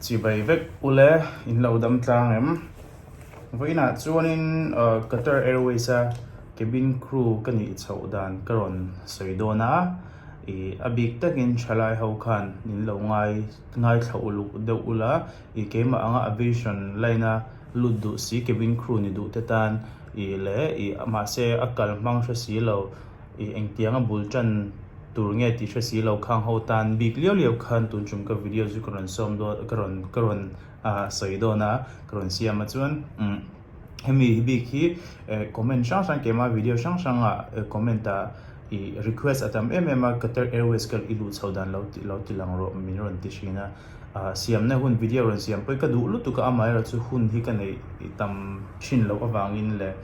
Chi bai vek u le, in lo dam tlang em? Vawiinah chuanin Qatar Airways a cabin crew ka nih chhoh dan ka rawn sawi dawn a, i a bik takin thalai ho khan in lo ngai ngaithla uluk deuh u la, i keimah anga aviation line a lut duh si cabin crew ni duh te tan i leh i mahse a kal hmang hre si lo. ih engtiang a bul tan tur nge tih hre si lo khang ho tan bik liau liau khan tun chum ka video chu ka rawn sawm dawn ka rawn ka rawn ah sawi dawn a ka rawn siam a chuan umm hemi hi bik hi eh comment hrang hrang kem a video hrang hrang ah eh comment ah ih request a tam em em a Qatar Airways ka i luh chho dan lo tih lo ti lang rawh min rawn ti thin a ah siamna hun video rawn siam pawi ka duh lutuk a amah erawh chu hun hi ka neih tam thin loh avangin leh.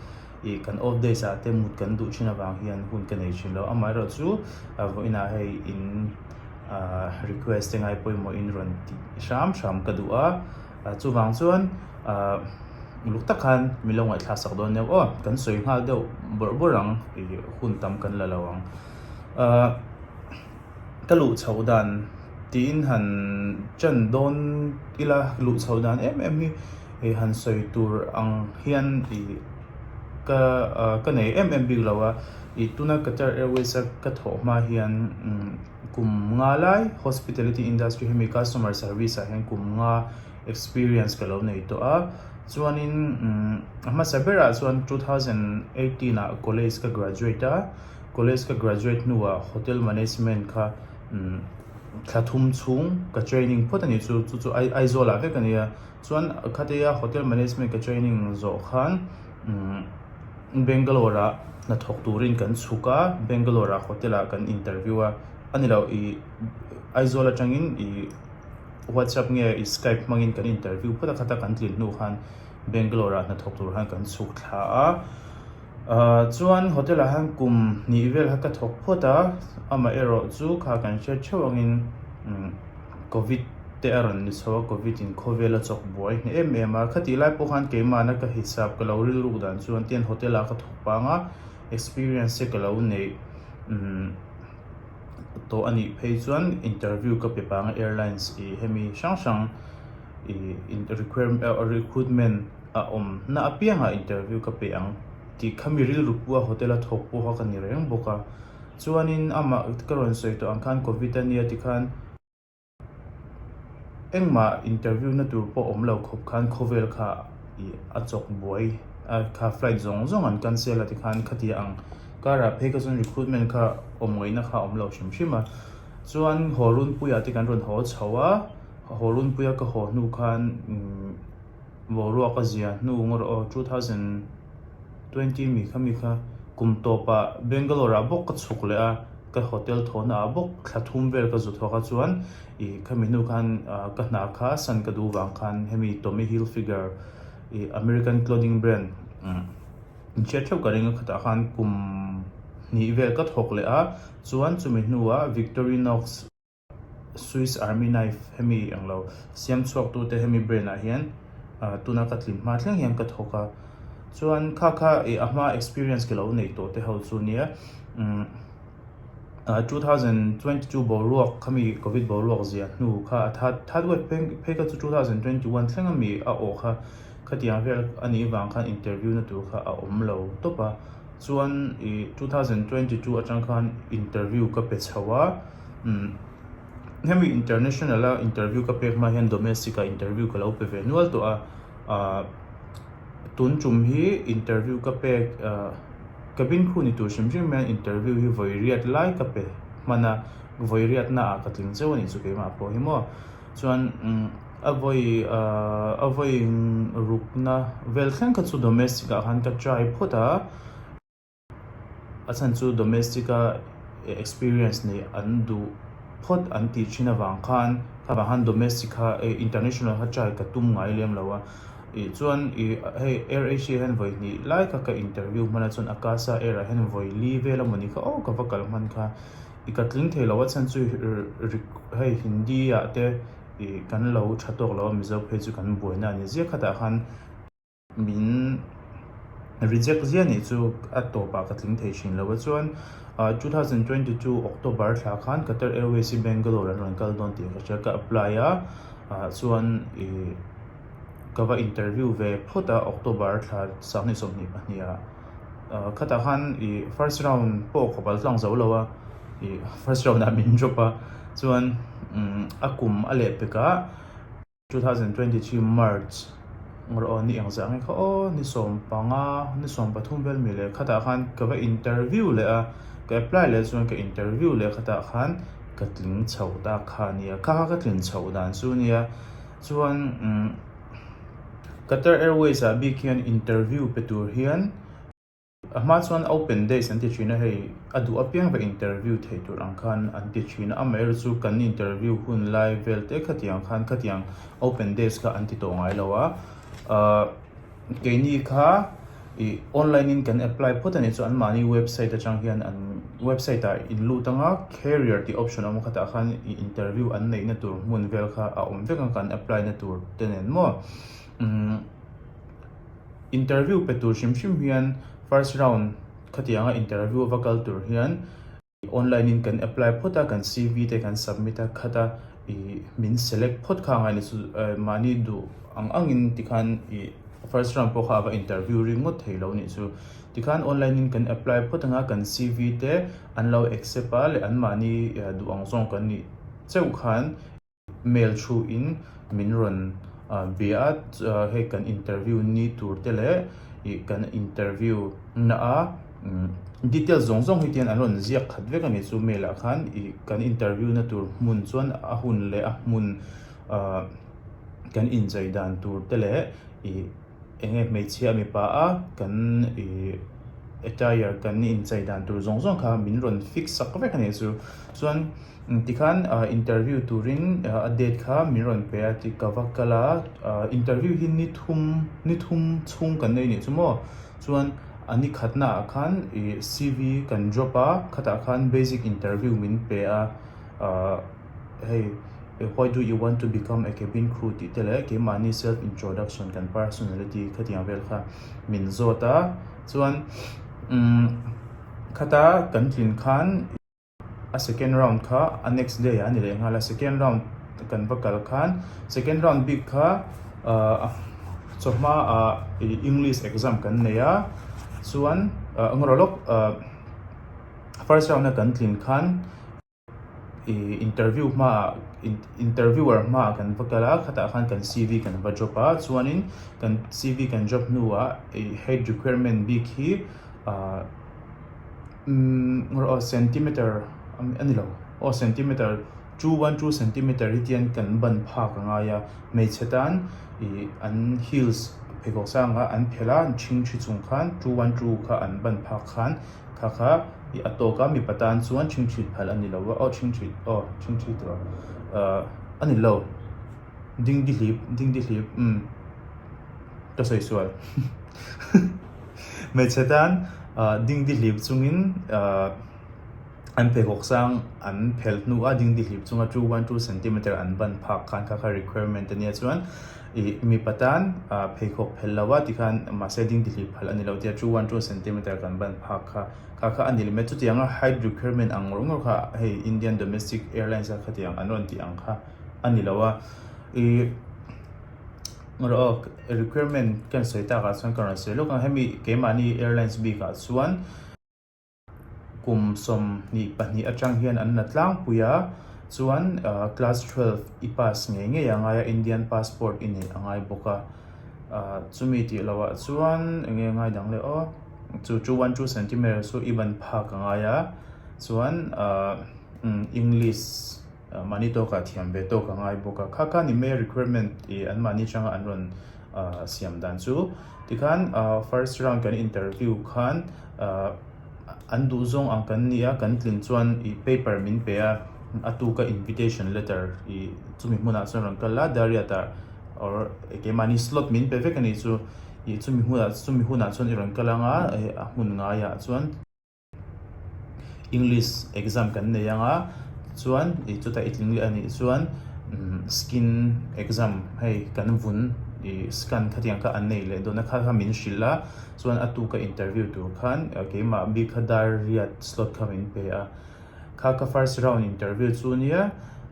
ih kan off days ah te mut kan duh thin avang hian hun ka nei thin lo, amaherawh chu a vawiinah hei in ah request te ngai pawimawhin rawn tih hram hram ka duh a, ah chuvang chuan ah uluk tak khan min lo ngaihthla sak dawn neuh aw, kan sawi nghal deuh bawrh bawrh ang ih hun tam kan la lo ang ah. ka luh chho dan tiin han chen dawn ila luh chho dan em em hi ih han sawi tur ang hian ih ka ah ka nei em em bik lo a ih tuna Qatar Airways a ka thawh hma hian kum nga lai hospitality industry hemi customer service ah hian kum nga experience ka lo nei tawh a chuanin a hmasa berah chuan two thousand eighteen ah college ka graduate a. College ka graduate hnuah Hotel Management kha thla thum chhung ka training phawt a nih chu, chu chu Aizawl ah vek a nia. Chuan khateia Hotel Management ka training zawh khan Bangalore ah hnathawk turin kan chhuk a, Bangalore ah Hotel ah kan interview a. A ni loh i Aizawl atangin i WhatsApp nge i Skype hmangin kan interview phawt a, khata kan tlin hnu khan Bangalore ah hnathawk tur khan kan chhuk thla a. Chuan hotel ah hian kum hnih vel kha ka thawk phawt a, amaherawh chu kha kan hriat theuh angin Covid te a rawn ni chho a, Covid in khawvel a chawk buai hneh em em a, khati lai pawh khan keimahna ka hisap ka lo rilruk dan chu an tien hotel ah ka thawk pang a, experience che ka lo neih tawh anih phei chuan interview ka pe pang a, airlines i hemi hrang hrang. recruitment a awm na apiangah interview ka pe ang tih kha mi rilru pua hotel a thawk pawh kha ka ni reng bawk a chuanin amah ka rawn sawi tawh ang khan covid a nia ti khan engmah interview na tur pawh awm lo khawp khan khawvel kha ih a chawk buai a kha flight zawng zawng an cancel a ti khan ka ti ang karah phei ka chuan recruitment kha awm ngaihna kha a awm lo hrim hrim a chuan haw runpuiah te kan rawn haw chho a. A haw runpuia ka haw hnu khan umm boruak a zia hnu ngaw rawh aw two thousand twenty mikha mikha kum tawpah Bangalore ah bawk ka chhuk leh a ka hotel thawhna ah bawk thla thum vel ka zu thawk a chuan i khami hnu khan ah ka hna kha sun ka duh vang khan hemi Tommy Hilfiger i American clothing brand umm inhriat theuh ka ringa khatah khan kum hnih vel ka thawk leh a chuan chumi hnuah Victorinox Swiss Army Knife hemi englo siam chhuaktute hemi brand ah hian tuna ka tlim hma thleng hian ka thawk a chuan kha kha eh a hma experience ke lo nei tawh te ho chu nia umm ah two thousand twenty two boruak khami covid boruak zia hnu kha a that that wek phei kha chu two thousand twenty one thleng ami a aw kha khatiang vel a nih vang khan interview na tur kha a awm lo tawp a chuan eh two thousand twenty two atang khan interview ka pe chho a. Hemi international a interview ka pek hma hian domestic a interview ka lo pe ve nual tawh a, tun tum hi interview ka pek cabin crew ni tur hrim hrim hian interview hi vawiriat lai ka pe hman a, vawiriat na ah ka tling zeuh a nih chu keimah pawh hi maw chuan a vawi a vawi ruk na vel thleng kha chu domestic ah khan ka try phawt a. A chhan chu domestic a experience nei an duh phawt an tih thin avang khan khava han domestic kha international kha try ka tum ngai lem lo a. Ih chuan i hei Air Asia hian vawi hnih lai kha ka interview hman a chuan Akasa Air ah hian vawi li vel a mawni kha aw ka va kal hman kha i ka tling thei lo a chhan chu hei hindi ah te ih kan lo tha tawk lo a Mizo phei chu kan buaina a ni ziak khatah khan Min reject zia nih chu a tawpah ka tling thei thin lo a. Chuan two thousand twenty two October thla khan Qatar Airways i Bangalore an rawn kal dawn tih ka hria. Ka apply a chuan ih ka va interview ve phawt a October thla sanghnih sawmhnih pahniha. Khatah khan ih first round pawh ka bal tlang zo lo a, ih first round ah min drop a. Chuan a kum a leh pekah. Two thousand twenty three March Ngaw aw ni eng zah nge kha aw ni sawm panga ni sawm pathum vel mi leh khatah khan ka va interview leh a ka apply leh chuan ka interview leh khatah khan ka tling chho tak kha nia kha ka tlin chho dan chu nia chuan umm Qatar Airways ah bik hian interview pe tur hian A hma chuan open days an ti thin a hei a duh apiang ve interview thei tur ang khan an ti thin a amah erawh chu kan interview hun lai vel te khatiang khan khatiang open days kha an ti tawh ngai lo a ah keini kha ih online in kan apply phawt anih chuan mahni website atang hian an website ah in lut anga carrier tih option a awm khatah khan ih interview an neihna tur hmun vel kha a awm vek ang kan apply na tur te nen maw umm. Interview pe tur hrim hrim hian first round khatianga interview a va kal tur hian ih online in kan apply phawt a, kan CV te kan submit a khat a ih min select phawt kha angai ni chu eh mahni duh ang ang in ti khan ih first round pawh kha ava interview ri ngawt thei lo nih chu. Tikhan online in kan apply phawt anga kan CV te an lo accept a leh an mahni eh duh ang zawng kan nih cheuh khan ih. Mail thu in min rawn bia a, hei kan interview ni tur te leh ih kan interview na a details zawng zawng hi tian an rawn ziak khat vek a ni chu mail ah khan ih kan interview na tur hmun chuan a hun leh a hmun kan inchei dan tur te leh ih-- eng nge hmeichhia mipa a kan ih attire kan inchei dan tur zawng zawng kha min rawn fix sak vek a nih chu chuan tikhan interview turin a date kha min rawn pe a tih ka va kal a interview hi ni thum ni thum chhung kan nei nih chu maw chuan a ni khatna ah khan ih C V kan drop a khatah khan basic interview min pe a ah-- hei why do you want to become a cabin crew tih te leh keimahni self introduction kan personality khatiang vel kha min zawt a chuan umm khata kan tlin khan a second round kha a next day ah a ni leh nghal a second round kan va kal khan second round bik kha ah chawhma ah english exam kan nei a chuan engrawh lawk ah first round a kan tlin khan. Ih interview hmaah interviewer hmaah kan va kal a khatah khan kan CV kan va drop a chuanin kan CV kan drop hnuah ih height requirement bik hi ah umm rawh centimeter a ni lo aw centimeter two one two centimeter hi chian kan ban phak a ngai a hmeichhe tan ih an heels pheikhawk sang ah an phelh a an ṭhing ṭhi chung khan two one two kha an ban phak khan. Tha kha i a tawk a, mipa tan chuan chhing chhit phal a ni lo a, aw chhing chhit aw chhing chhit tur a ni lo, ding di hlip ding di hlip umm ka sawi sual hmeichhe tan ding di hlip chungin an pheikhawk sang an phelh hnu a, ding di hlip chunga two one two centimeter an ban phak khan kha kha requirement ania chuan. Ih, mipa tan pheikhawk phelh lo a ti khan mahse ding tihlih phal a ni lo tia two one two centimeter kan ban phak kha ka kha a nilem e. Chutiang a height requirement ang ngawr ngawr kha hei Indian domestic airlines a khatiang an rawn tih ang kha a ni lo a. Ih, rawh awk, requirement ka insawi takah chuan ka rawn sawi lawk ang, hemi keimahni airlines bikah chuan. Kum sawm hnih pahnih atang hian an la tlangpui a, chuan class twelve i pass ngei ngei a ngai a, Indian passport i neih a ngai bawk a, chumi tih loh ah chuan eng nge a ngai dang le aw, chu chu one two centimetres chu i ban phak a ngai a, chuan English mahni tawk ah thiam ve tawk a ngai bawk a, kha kha ni mai a requirement ih an mahni atanga an rawn. siam dan chu tikhan first round kan interview khan an duh zawng ang kan ni a kan tlin chuan ih paper min pe a a tu ka invitation letter ih chumi hmunah chuan rawn kal a diary ah tah or keimahni slot min pe vek a nih chu ih chumi hmunah chumi hunah chuan i rawn kal ang a a hmun ngaiah chuan-- English exam kan nei ang a chuan ih chuta i tling leh a nih chuan umm skin exam hei kan vun ih scan khatiang kha an nei leh dawn a kha kha min hrilh a chuan a tu ka interview tur khan keimah bikha dar riat slot kha min pe a kha ka first round interview chu nia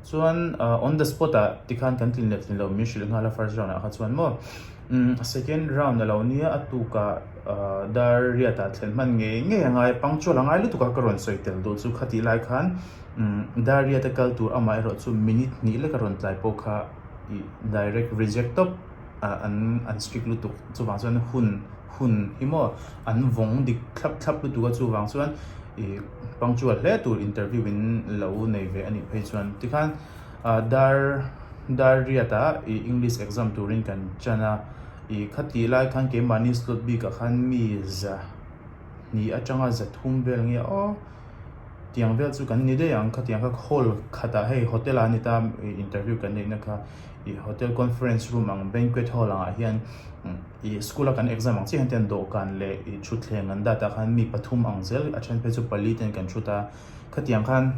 chuan ah on the spot ah tikhan kan tlin leh tlin lo min hrilh nghal a first round ah kha chuan maw. Second round a lo nia a tuka dar riatah thlen hman ngei ngei a ngai a punctual a ngai lutuk a ka rawn sawi tel duh chu khati lai khan dar riat a kal tur amah erawh chu minute hnih lek a rawn tlai pawh kha ih direct reject tawp an strict lutuk chuvang chuan hun hun hi maw an vawng dik thlap thlap lutuk a chuvang chuan ih punctual hle tur interview in lo nei ve a nih phei chuan tikhan. Dar dar riata ih English exam turin kan chan a, ih kha tih lai khan keimahni slot bik ah khan mi za hnih atanga za thum vel nge aw tiang vel chu kan i ni daih ang khatiang kha hall khat ah hei hotel ah a ni ta ih interview kan neihna kha ih hotel conference room ang banquet hall ang ah hian ih school a kan exam ang chiah hian ten dawhkan leh ih thutthleng an dat a khan mi pathum ang zel a then phei chu pali ten kan thu ta khatiang khan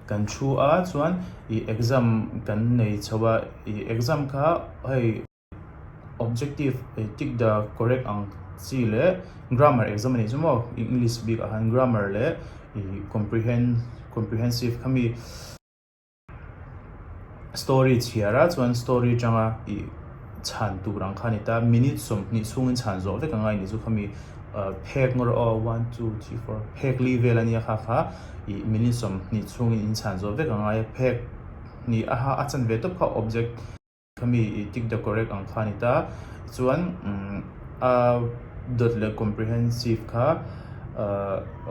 Kan thu a chuan ih exam kan nei chho a, ih exam kha hei objective ih tick the correct ang chi leh grammar exam a nih chu maw, English bik ah khan grammar leh ih comprehend comprehensive kha mi. Story chhiar a chuan story tanga i chhan tur ang kha a ni ta, minute sawmhnih chhungin chhan zawh vek ang a, i nih chu khami phek ngaw rawh aw one two three four phek li vel a nia kha kha i minute sawmhnih chhungin in chhan zawh vek ang a, phek hnih a ha a chan ve tawp kha object. Khami i tick the correct ang kha a ni ta. Chuan a dawt leh comprehensive kha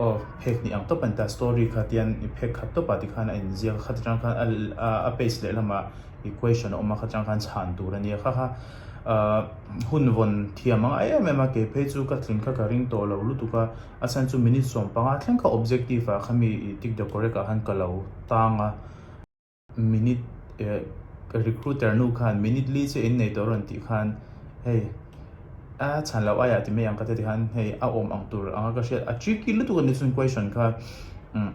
aw phek hnih ang tawp a ni ta. Story kha tian i phek khat tawp a ti khan a inziak a khat atang khan a page lehlamah i question a awm a khat atang khan chhan tur a nia kha kha. Aw hun vawn thiam a ngai em em a ke phei chu ka tling kha ka ring tawh lo lutuk a. A chhan chu minute sawm panga thleng kha objective ah khami i tick the correct ah khan ka lo tang a. Minute eh recruiter nu khan minute li che in nei tur a rawn tih khan hei a chhan loh aiah ti mai ang ka ti khan hei a awm ang tur anga ka hriat a tricky lutuk a ni chuan question kha umm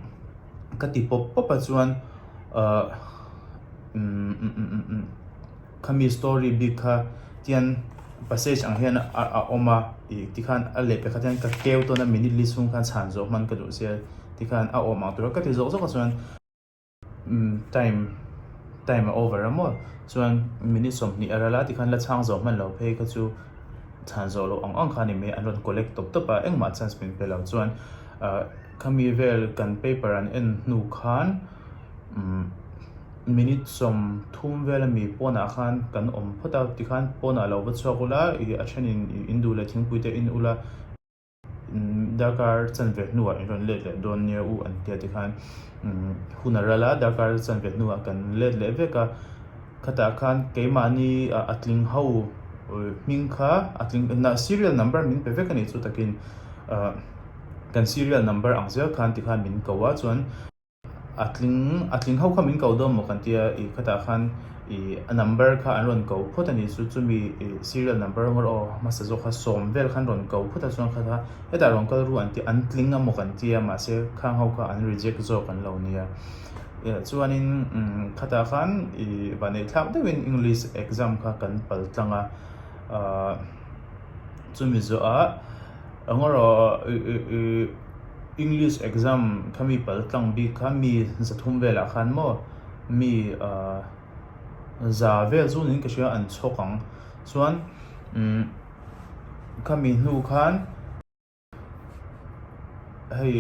ka ti pawp pawp a chuan ah umm umm khami story bik kha tian passage ang hian a awm a tih ti khan a leh pe kha tian ka keu tawn a minute li chhung khan chhan zawh hman ka duh sia ti khan a awm ang tur a ka ti zawk zawk a chuan Time time a over a maw chuan minute sawmhnih a ral a tikhan la chhang zawh hman lo phei kha chu chhan zawh loh ang ang kha a ni mai an rawn collect tawp tawp a engmah chance min pe lo chuan ah khami vel kan paper an en hnu khan umm minute sawm thum vel a mi pawnah khan kan awm phawt a tikhan pawnah lo va chhuak ula ih a thenin in duh leh thingpui te a in ula. darkar chanve hnuah in rawn let leh dawn nia u an tia tikhan hun a ral a darkar chanve hnuah kan let leh vek a khatah khan keimahni a tling ho hming kha a tling nah serial number min pe vek a nih chu takin kan serial number ang zel khan tikhan min ko a chuan-- A tling a tling ho kha min ko dawn maw kan ti a, ih khatah khan ih a number kha an rawn ko phawt a ni chu chumi ih serial number rawng a rawh a, hmasa zawk kha sawm vel kha an rawn ko phawt a chuan kha kha hetah rawn kal ru an ti a, an tling a maw kan ti a mahse khang ho kha an reject zawk an lo nia. Eh chuanin umm khatah khan ih vahneih thlak deuhin English exam kha kan pal tlang a, ahh chumi zawhah eng emaw ih ih ih. English exam kha mi pal tlang bik kha mi za thum velah khan maw mi za vel zun in ka hria an chhawk ang chuan umm kha mi hnu khan hei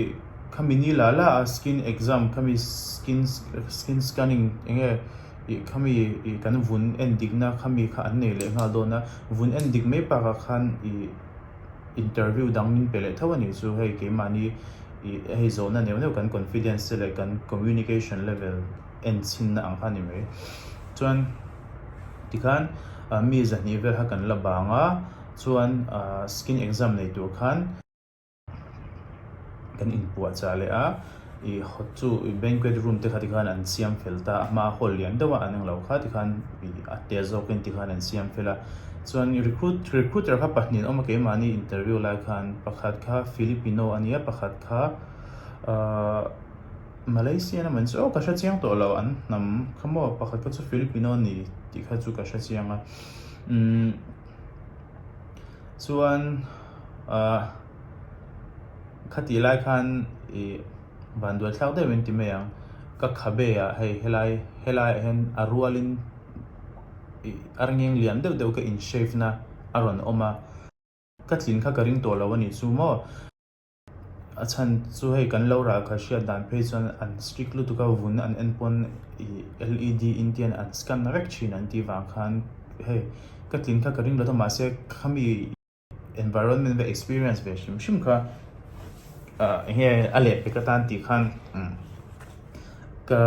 kha mi ni la la a skin exam kha mi skin skin scanning enge ih kha mi ih kan vun en dik na kha mi kha an nei leh nghal dawn a vun en dik mai bakah khan ih-- Interview dang min pe leh tho a nih chu hei keimahni ih hei zawhna neuh neuh kan confidence te leh kan communication level en chhinna ang kha a ni mai. Chuan tikhan mi zahnih vel kha kan la bang a, chuan skin exam nei tur khan kan inpuahchah leh a. I hot chu i banquet room te kha ti khan an siam fel ta a hma hall lian deuh a an englo kha ti khan i a tel zawk in ti khan an siam fel a chuan recruit recruiter kha pahnih an awm a keimahni interview lai khan pakhat kha filipino a nia pakhat kha umm malaysian amaw ni chu aw ka hre chiang tawh lo an hnam kha maw pakhat kha chu filipino a ni tih kha chu ka hre chiang a umm chuan ahh. Khati lai khan i vanduai thlak deuh in ti mai ang. Ka khabe ah hei helai helai ah hian a rual in i arngeng lian deuh deuh ka in shave na a rawn awm a. Ka tlin kha ka ring tawh lo a nih chu maw? A chhan chu hei kan lo ralkha hriat dan phei chuan an strict lutuk a, vun an en pawn i led in te an an scan na vek thin an tih vang khan hei ka tlin kha ka ring lo ta mahse khami. Environment ka experience ve hrim hrim kha enge a leh vek atan tih khan ka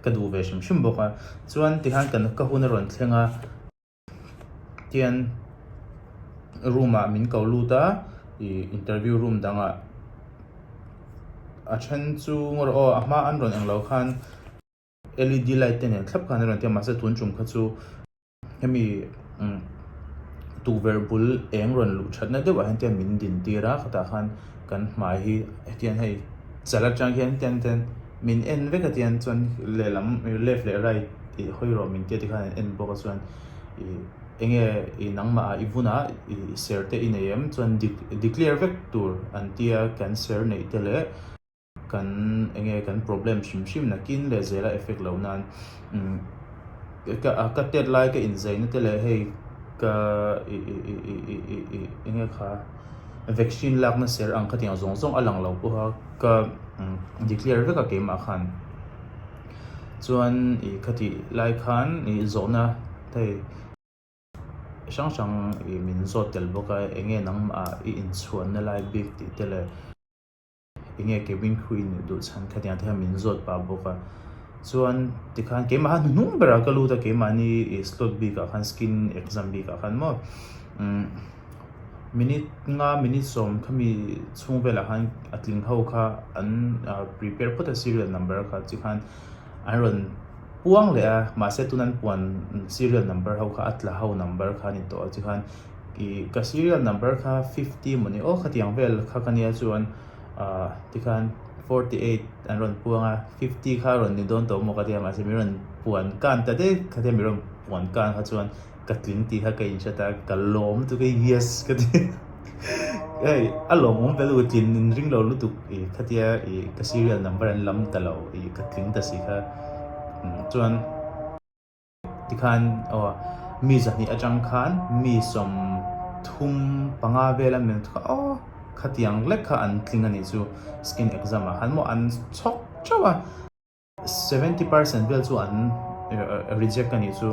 ka duh ve hrim hrim bawk a, chuan tikhan kan ka hun a rawn thleng a tian room ah min ko lut a ih interview room dangah a then chu ngaw rawh aw a hma an rawn englo khan. LED light te nen thlap khan a rawn ti a mahse tun tum kha chu hemi tukverh bul eng rawn luh that na deuh ah hian tian min din tir a khatah khan kan hmai hi hetiang hei chal atang hian tian ten min en vek a tian chuan lehlam left leh right ih hawi rawh min tia tikhan an en bawk a chuan ih enge ih nangmah ah i vunah i ser te i nei em chuan dik declare vek tur an tia kan ser neih te leh-- Kan enge kan problem hrim hrim nakin leh zela effect loh nan ka tet lai ka inzei na te leh hei ka enge kha vaccine lak na ser ang khatin zawng zawng a lang lo pawh a ka declare vek a keimah khan chuan i khatih lai khan i zawh na hei chi hrang hrang i min zawt tel bawk a enge nangmah ah i inchhuan na lai bik tih te leh Enge Kevin Khu in duh chhan kha tiang te kha min zawt pah bawk a, chuan tikhan keimaha hnuhnung berah ka lut a, keimahni ih slot bikah khan skin exam bikah khan maw umm minute nga minute sawm kha mi chhung velah khan a tling ho kha an prepare phawt a serial number kha chi khan an rawn puang leh a, mahse tun an puan serial number ho kha a tla ho number kha a ni tawh a chi khan. ih ka serial number kha fifty maw ni aw khatiang vel kha ka nia chuan ah tikhan forty eight an rawn puang a fifty kha rawn ni dawn tawh maw ka tia mahse min rawn puan kan ta deuh kha tia min rawn puan kan kha chuan ka tling tih kha ka inhre ta ka lawm lutuk a yes ka ti hei a lawm awm ve loh tlin in ring lo lutuk ih khatia ih ka serial number an lam ta lo ih ka tling ta si kha chuan. Tikhan aw mi zahnih atang khan mi sawm thum panga vel an leng thuka aw khatiang lek kha an tling a nih chu skin exam ah khan maw an chhawk chauh a seventy percent vel chu an reject a nih chu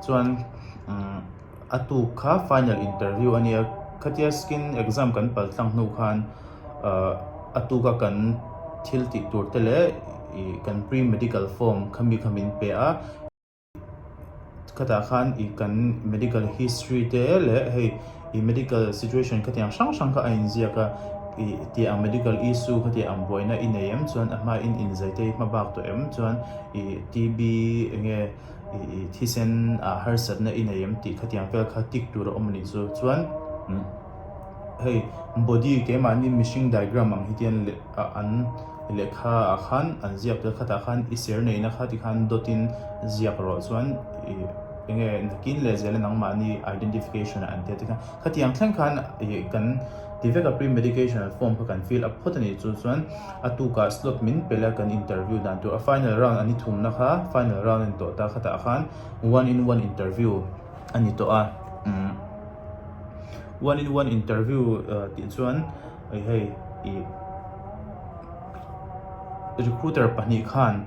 chuan umm. A tu kha final interview a nia, khatia skin exam kan pal tlang hnu khan a tu kha kan thil tih tur te leh kan pre medical form kha mi kha min pe a, khatah khan kan medical history te leh hei medical situation kha tiang hrang hrang kha a in ziak a, tia ang medical issue kha tiang ang buaina i nei em chuan a hmain in zai te i hma bak tawh em chuan TB enge. i thisen ah harsatna i nei em tih khatiang vel kha tik tur a awm a nih chu. Chuan hei body keimahni mihring diagram ang hitin an leh ah an lehkha ah khan an ziak tir khatah khan i ser neihna kha ti khan dot in ziak rawh chuan i enge nakin leh zel a nangmahni identification ah an tia tikhan khatiang thleng khan i kan ti vek a pre-medication form kha kan fill up phawt a nih chu chuan. A tukah slot min pe la kan interview dan tur a final round a ni thumna kha final round a ni tawh ta khatah khan one in one interview a ni tawh a. One in one interview tih chuan ih hei ih recruiter pahnih khan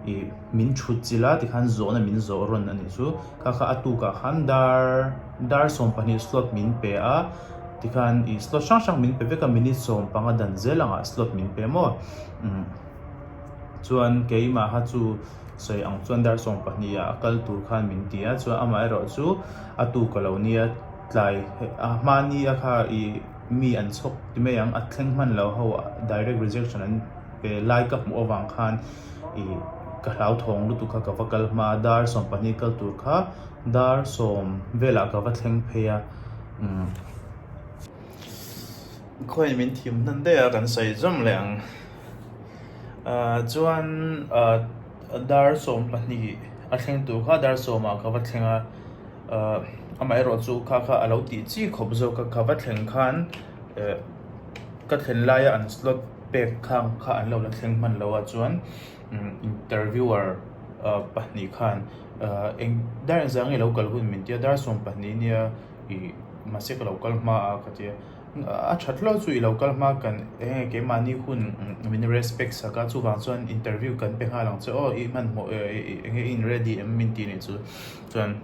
ih min thut chilh a tikhan zawhna min zawh rawn a nih chu. Kha kha a tukah khan dar dar sawm pahnih slot min pe a, Tikhan i slot hrang hrang min pe vek a, minute sawm panga dan zel angah slot min pe maw? Umm. Chuan keimaha chu sawi ang chuan dar sawm pahniha a kal tur khan min ti a, chuan amah erawh chu a tu ka lo nia, tlai a hmania kha i mi an chhawk ti mai ang, a thleng hman lo ho direct rejection an pe lai ka hmuh avang khan i ka hlauthawng lutuk kha ka va kal hma a, dar sawm pahnih kal tur kha. Dar sawm velah ka va thleng phei a, umm. Khawiin min thim hnan daih a kan sawi zawm leh ang. Aaa chuan aaa dar sawm pahnih a thleng tur kha dar sawmah ka va thleng a, aaa amaherawh chu kha kha a lo tih chi khawp zawk a, ka va thleng khan eh ka thlen laia an slot pek khang kha an lo la thleng hman loa chuan umm interviewer aaa pahnih khan. Ahh, eng dar in zang i lo kal hun min tia, dar sawm pahnih nia i mahse ka lo kal hma a ka tia. A that hlauh chu i lo kal hma kan eng nge keimahni hun min respect sak a, chuvang chuan interview kan pe nghal ang che, aw i hmanhmawh e eng nge i in ready em min tih ni chu chuan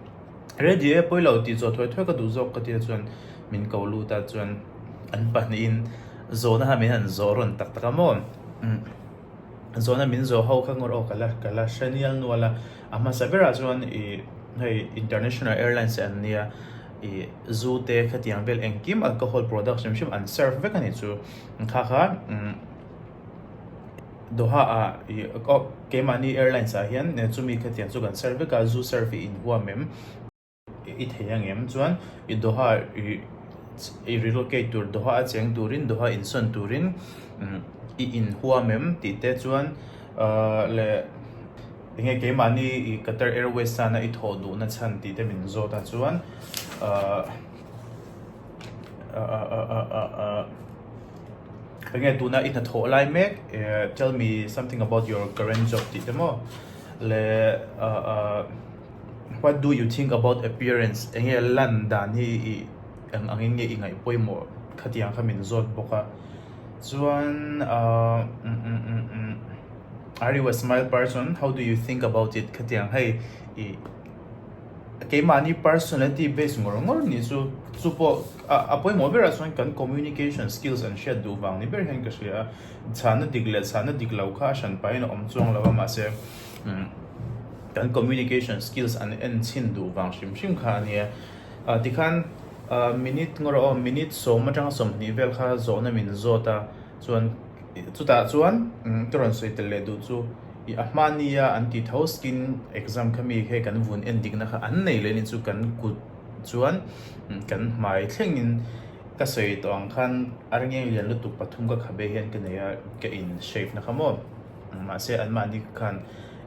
ready e pawilo tih zawh thawih thawih ka duh zawk ka tia chuan min ko lut a chuan an pahnihin zawhna han min han zawh rawn tak tak a maw. zawhna min zawh ho kha ngawt aw ka la ka la hre nial nual a a hmasa berah chuan i hei international airlines e an nia i zoo te khatiang vel engkim alcohol products hrim hrim an serve vek a nih chu kha kha doha a i oh keimahni airlines ah hian chumi khatiang chu kan serve vek a zoo serve hi inhuam em. I thei a ngem chuan i doha i relocate tur doha a cheng turin doha in sawn turin i in huam em tih te chuan leh enge keimahni i Qatar Airways chana i thawh duh na chhan tih te min zawt a chuan enge tuna i hna thawh lai mek tell me something about your current job tih te maw leh What do you think about appearance? Enge lan dan hi i eng angin nge i ngaihpawimawh khatiang kha min zawt bawk a. Chuan umm Are you a smile person? How do you think about it? khatiang hei i keimahni personality base ngawr ngawr ni chu chu pawh a pawimawh berah chuan kan communication skills an hriat duh vang ni ber hian ka hria a. Chhahna dik leh chhahna dik lo kha a hran pahin a awm chuang lo a mahse, Kan communication skills an en chhin duh vang hrim hrim kha a nia. Tikhan minute ngaw rawh aw, minute sawm atanga sawmhnih vel kha zawhna min zawt a, chuan chutah chuan ka rawn sawi tel leh duh chu ih a hma nia an ti tho skin exam kha mi khe kan vun en dikna kha an nei leh ni chu kan kut chuan kan hmai thlengin ka sawi tawh ang khan areng eng lian lutuk pathum ka khabe hian ka nei a ka in shave na kha maw. Mahse, anmahni khan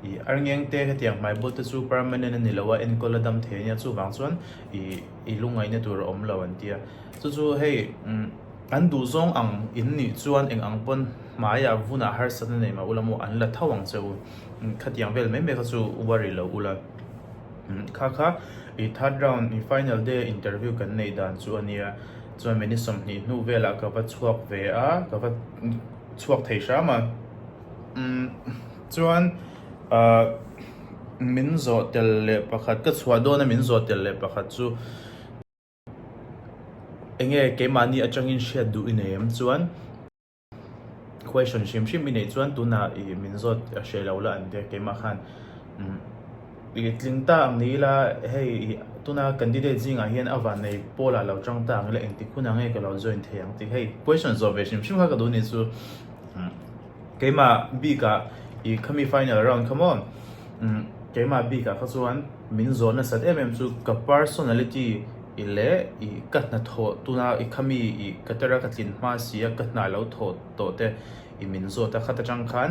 ih arngeng te hetiang hmaibul te chu permanent a ni lo a, enkawl a dam thei ania chuvang chuan ih i lungaina tur a awm lo an tia. Chu chu hei an duh zawng ang in nih chuan eng ang pawn hmaiah vunah harsatna nei mah u lam aw an la tho ang che u. Khatiang vel mai mai kha chu worry lo u la. Kha kha ih third round ih final day a interview kan neih dan chu a nia, chuan min i sawmhnih hnu velah ka va chhuak ve a, ka va. chhuak thei hram a, umm chuan ahh min zawh tel leh pakhat ka chhuah dawn a min zawh tel leh pakhat chu enge keimahni atangin hriat duh i nei em chuan question hrim hrim i neih chuan tunah i min zawt hrelo la an tia keimah khan umm. i tling ta ang ni ila hei tuna candidate zingah hian a van nei pawl ah lo tang ta ang ila eng tik hunah nge ka lo join thei ang tih hei question zawh ve hrim hrim kha ka duh ni chu umm keimah bik ah i khami final round kha maw umm keimah bik ah kha chuan min zawh nasat em em chu ka personality i leh i ka hnathawh tuna i khami i ka tera ka tlin hma si a ka hnah lo thawh tawh te i min zawt a khat atang khan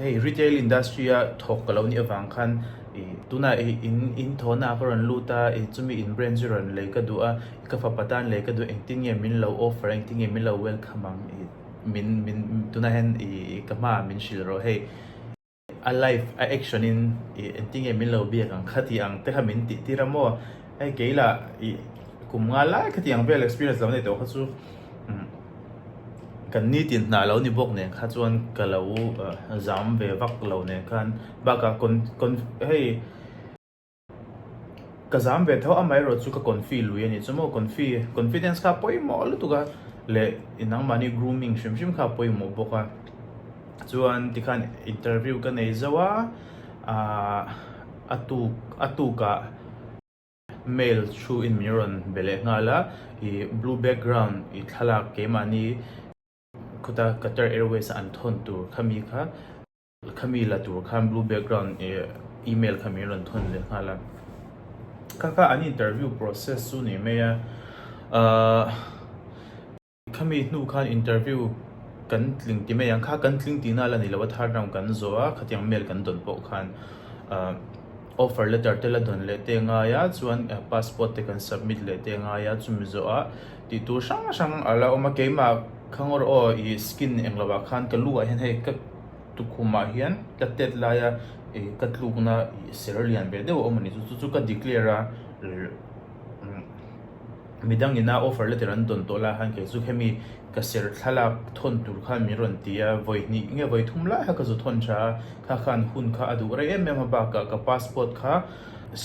Hei retail industry a thawk ka lo nih avang khan tuna in in thawhnaah ka rawn lut a, chumi in brand chu rawn lei ka duh a, i ka fapa tan lei ka duh engtin nge min lo offer a, engtin nge min lo welcome ang min min tunah hian i ka hmaah min hrilh rawh hei a live a action in engtin nge min lo biak ang kha tih ang te kha min tihtir a maw. Hei kei lah i kum nghal lai kha tih ang vel experience lo nei tawh kha chu kan ni tin hnah lo ni bawk nen kha chuan ka lo zam ve vak lo nen khan bakah con con hei ka zam ve tho amaherawh chu ka confuse lui a nih chu maw confuse confidence kha a pawimawh lutuk a leh i nang mahni grooming hrim hrim kha a pawimawh bawk a chuan tikhan interview ka nei zauh a ahh. A tuk a tukah mail through in min rawn be leh nghal a, ih blue background ih thlalak keimahni khuta Qatar Airways an thawn tur kha mi kha kha mi la tur khan blue background ih email kha min rawn thawn leh nghal a. Kha kha an interview process chu nei mai a, ah. Khami hnu khan interview kan tling ti mai ang kha, kan tling ti na la ni lo a thar dang kan zawh a, khatiang mail kan dawn pawh khan offer letter te la dawn leh te ngai a, chuan passport te kan submit leh te ngai a, chumi zawh a tih tur hrang hrang a la awm a, keimah Khangor aw i skin eng lo ah khan ka lu ah hian hei ka tukhum ah hian ka tet lai a ka tluk na ser lian ve deuh a awm a ni chu, chu chu ka declare a. midang ina offer letter an dawn tawh lai khan kei chu hemi ka serh thlalak thawn tur khan min rawn ti a, vawi hnih nge vawi thum lai kha ka zu thawn tha a, kha khan hun kha a duh rei em em a bakah ka passport kha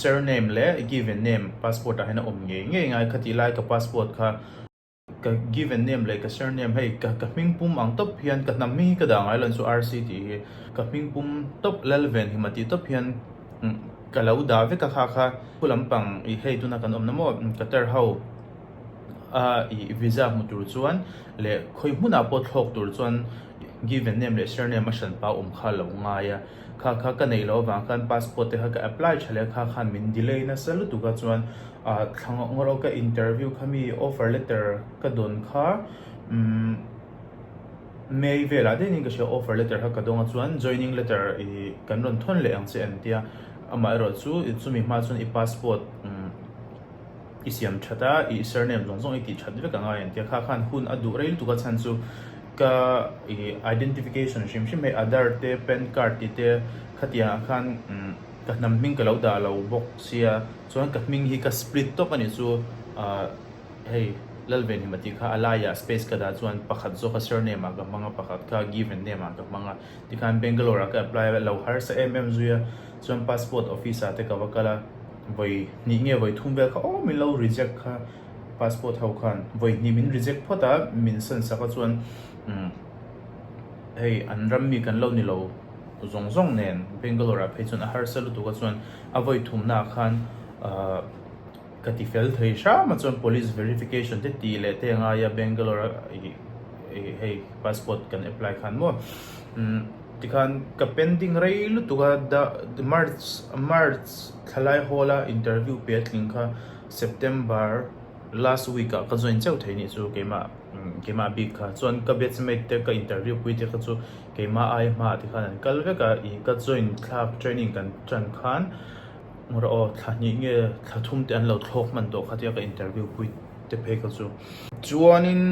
surname leh given name passport ah hian a awm ngei ngei ngai khatih lai ka passport kha ka given name leh ka surname hei ka ka hming pum ang tawp hian ka hnam hi ka dah ngai loh chuan RC tih hi ka hming pum tawp Lalven Himati tawp hian ka lo dah vek a kha kha. Khua lampang i hei tuna kan awmna maw? Qatar ho a i visa hmu tur chuan leh khawi hmunah pawh thlawk tur chuan given name leh surname a hran pau awm kha lo ngai a. Kha kha ka neih loh avang khan passport te kha ka apply tha leh kha khan min delay nasa lutuk a chuan thla ngawk ngawt awk a interview kha mi offer letter ka dawn kha umm May velah daih niin ka hria offer letter kha ka dawng a chuan joining letter i kan rawn thawn leh ang che an tia. Amah erawh chu i chumi hma chuan i passport i siam that a, i surname zawng zawng i tih that vek ang a entia kha khan hun a duh rei lutuk a chhan chu ka i identification hrim hrim hei aadhar te pan card tih te khatiang ah khan ka hnam hming ka lo dah lo bawk sia chuan ka hming hi ka split tawp a nih chu hei Lalvenhima tih kha a laiah space ka dah chuan pakhat zawk a surname ah ka hmang a pakhat kha given name ah ka hmang a. Tikhan Bangalore ah ka apply lo harsa em em zui a, chuan passport office ah te ka va kal a, vawi hnih nge vawi thum vel kha aw min lo reject kha, passport ho khan vawi hnih min reject phawt a, min san sak a chuan umm hei an ram mi kan lo ni lo zawng zawng nen Bangalore ah phei chuan a harsa lutuk a chuan a vawi thum na ah khan ahh. Ka ti fel thei hram a chuan police verification te tih leh te a ngai a Bangalore a hei passport kan apply khan maw tikhan ka pending rei lutuk a March March thalai hawl a interview piah tling kha September last week ah ka join chauh thei anih chu keimah keimah bik kha chuan ka batch mate te ka interview pui te kha chu keimah aia hma ah te khan an kal vek a ih ka join thlak training kan tan khan Hmu rawh aw, thla hnih nge thla thum te an lo thlawk hman tawh khatia ka interview pui te phei ka chu. Chuanin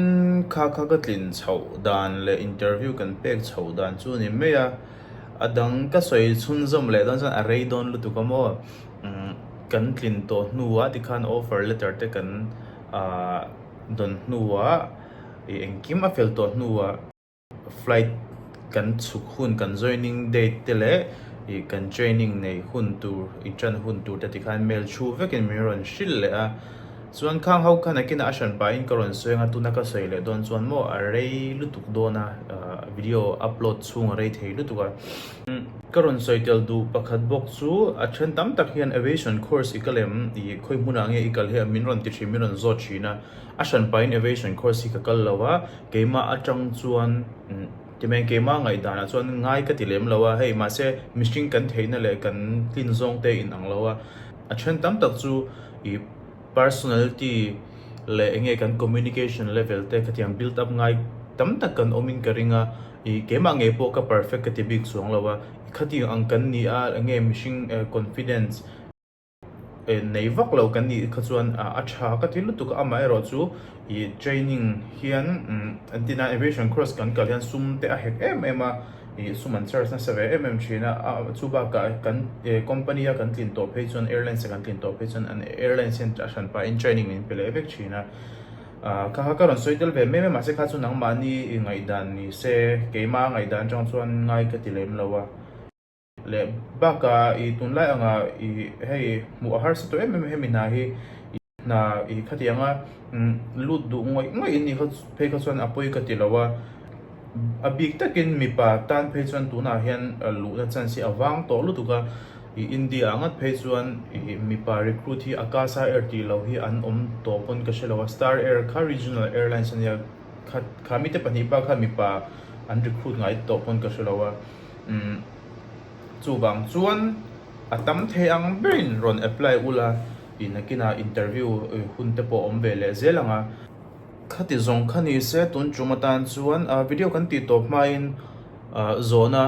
kha kha ka tlin chhoh dan leh interview kan pek chhoh dan chu ni mai a, a dang ka sawi chhunzawm leh dawn chuan a rei dawn lutuk a maw umm kan tlin tawh hnuah tikhan offer letter te kan aah dawn hnuah ih engkim a fel tawh hnuah, Flight kan chhuk hun, kan joining date te leh ih kan training neih hun tur, inṭan hun tur te tikhan mail thu vekin min rawn hrilh leh a. Chuan Khang ho khan akinah a hran pahin ka rawn sawi ang a, tuna ka sawi leh dawn chuan maw a rei lutuk dawn a, video upload chhung a rei thei lutuk a. Ka rawn sawi tel duh pakhat bawk chu a ṭhen tam tak hian aviation course i ka lem, ih khawihmunah nge i kal hi a, min rawn ti ṭhin, min rawn zawt ṭhin a. A hran pahin aviation course hi ka kal lo a, keimah atang chuan ti mai keimah ngaihdan ah chuan ngai ka ti lem lo a hei mahse mihring kan theihna leh kan tlin zawng te in ang lo a, a then tam tak chu i personality leh eng nge kan communication level te khatiang build up ngai tam tak kan awm in ka ring a, i keimah ngei pawh ka perfect ka ti bik suang lo a, khatiang ang kan ni a eng nge mihring confidence. en nei vak lo kan nih kha chuan a tha ka ti lutuk a amah erawh chu ih training hian an ti na aviation course kan kal hian sum te a hek em em a ih sum an charge nasa ve em em thin a a chu bakah kan e company a kan tlin tawh phei chuan airlines a kan tlin tawh phei chuan an airlines hian a hran pahin training min pe leh vek thin a ah kha kha ka rawn sawi tel ve mai mai a mahse kha chu nangmahni i ngaihdan nise keima a ngaihdan atang chuan ngai ka ti lem lo a. Leh bak a i tunlai ang a i hei hmuh a harsa tawh em em a hemi hna hi i hna i khati ang a lut duh ngawih ngawih in i phei kha chuan a pawi ka ti lo a a bik tak in mipa tan phei chuan tun ah hian luh na chance hi a vang tawh lutuk a i India ah ngat phei chuan i mipa recruit hi Akasa Air tih lo hi an awm tawh pawn ka hre lo a Star Air kha Regional Airlines a nia khat kha mite pahnih bak kha mipa an recruit ngai tawh pawn ka hre lo a. Chuvang chuan a tam thei ang berin rawn apply ulh a, i nakinah interview hunte pawh awm ve leh zel ang a. Khati zawng kha ni se tun chum atan chuan video kan ti tawp hmain zawhna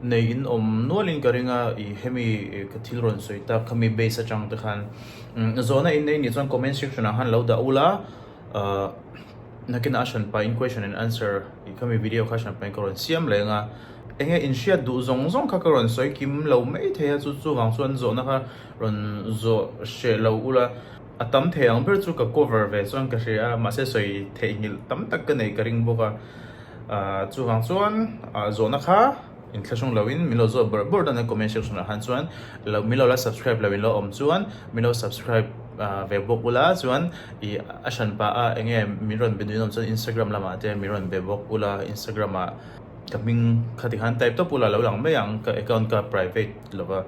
nei in awm nualin ka ring a, i hemi ka thil rawn sawi tak kha mi base atangte khan zawhna in nei ni chuan comment section ah khan lo dah ulh a. Nakin a hran pahin question and answer tih kha mi video kha hran pahin ka rawn siam leng a, enge inhriat duh zawng zawng kha ka rawn sawi kim lo mai thei a, chu chuvang chuan zawhna kha rawn zawh hreh lo ula, a tam thei ang ber chu ka cover ve chuan ka hria a, mahse sawi theihnghilh tam tak ka nei ka ring bawk a, ahh chuvang chuan ahh zawhna kha. In thla hrawng loin min lo zawh bawrh bawrh dawn a comment section ah khan chuan lo min lo la subscribe lo in lo awm chuan min lo subscribe ah ve bawk ula chuan ih a hran pah a eng nge min rawn be nuihin awm chuan Instagram lamah te min rawn be bawk ula Instagram ah ka hming kha ti khan type tawp ula lo lang mai ang ka account ka private lova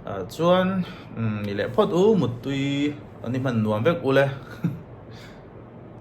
ah chuan umm ni leh phawt u muttui ni hman nuam vek ule.